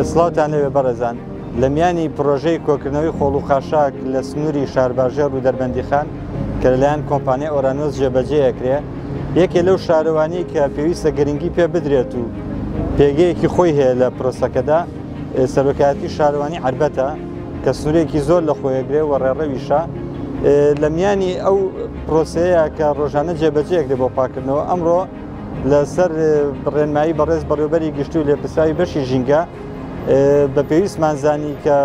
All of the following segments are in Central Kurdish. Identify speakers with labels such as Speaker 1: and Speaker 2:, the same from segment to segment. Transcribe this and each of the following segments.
Speaker 1: سڵاوتان لەوێ بەڕێزان لە میانی پرۆژەی کۆکردنەوەی خۆڵ و خاشاک لە سنووری شارباژێر و دەربەندیخان کە لەلایەن کۆمپانیا ئۆرانۆس جێبەجێەکرێ یەکێ لەو شارەوانی کە پێویستە گرنگی پێ بدرێت و پێگەیەکی خۆی هەیە لە پرۆسەکەدا سەرۆکایەتی شارەوانی عربەتە کە سورێکی زۆر لە خۆیەگرێ و ڕێڕەویشە لە میانی ئەو پرۆسەیە کە ڕۆژانە جێبەجێکرێ بۆ پاکردنەوە ئەمڕۆ لەسەر ڕێنمایی بەڕێز بەڕێوبەری گشتی و لێپرسراوی بەشی ژینگە بە پێویستمان زانی کە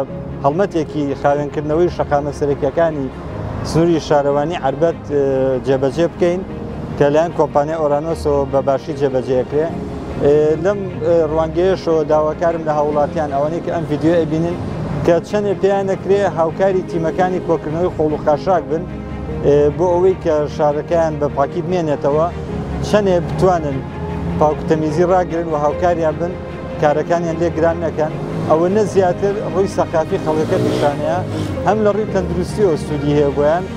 Speaker 1: هەڵمەتێکی خاوێنکردنەوەی شەقامە سەرەکیەکانی سنووری شارەوانی عربەت جێبەجێ بکەین کە لایەن کۆمپانیا ئۆرانۆسەوە بە باشی جێبەجێکرێ لەم ڕوانگەیەشەوە داواکارم لە هاوڵاتیان ئەوانەی کە ئەم ڤیددیو ئەبینن کە چەندێ پێیان نەکرێ هاوکاری تیمەکانی کۆکردنەوەی خۆڵ و خاشاک بن بۆ ئەوەی کە شارەکەیان بە پاکی بمێنێتەوە چەندێ بتوانن پاکوتەمیزی ڕاگرن و هاوکاریان بن کارەکانیان لێ گران نەکەن ئەوە نە زیاتر ڕووی سەقافی خەڵکەکە پیشانەیە هەم لە ڕووی تەندروستی و سوودی هەیە بۆیان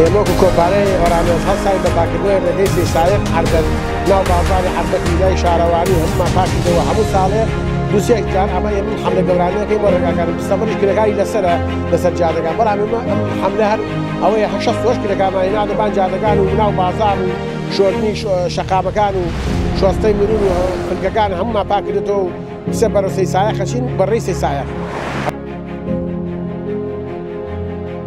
Speaker 2: ئێمە وەکو کۆمپانیای ئۆرامێس هەستاین بە پاکردنەوەی ڕێگەی سەی سایق، عەربەت، ناو بازاڕی عەربەت و بینای شارەوانی و هەموومان پاکی دەوە هەموو ساڵێ دوو سێ جار، ئەمە ئێمەم حەملە گەورانە دەکەین بۆ ڕێگاکان، مستەفەش کرێکاری لەسەرە لەسەر جادەکان، بەڵام ئێمە ئەم حەملە هەر ئەوەیە هەر شەست و هەشت کرێکارمان هێناوەتە بان جادەکان و ناو بازاڕ و شۆردنی شەقامەکان و شۆستەی مروور و فلکەکان هەموومان پاک کردۆتەوە و سە بەرەو سەی سایق ئەچین بە ڕێی سەی سایق.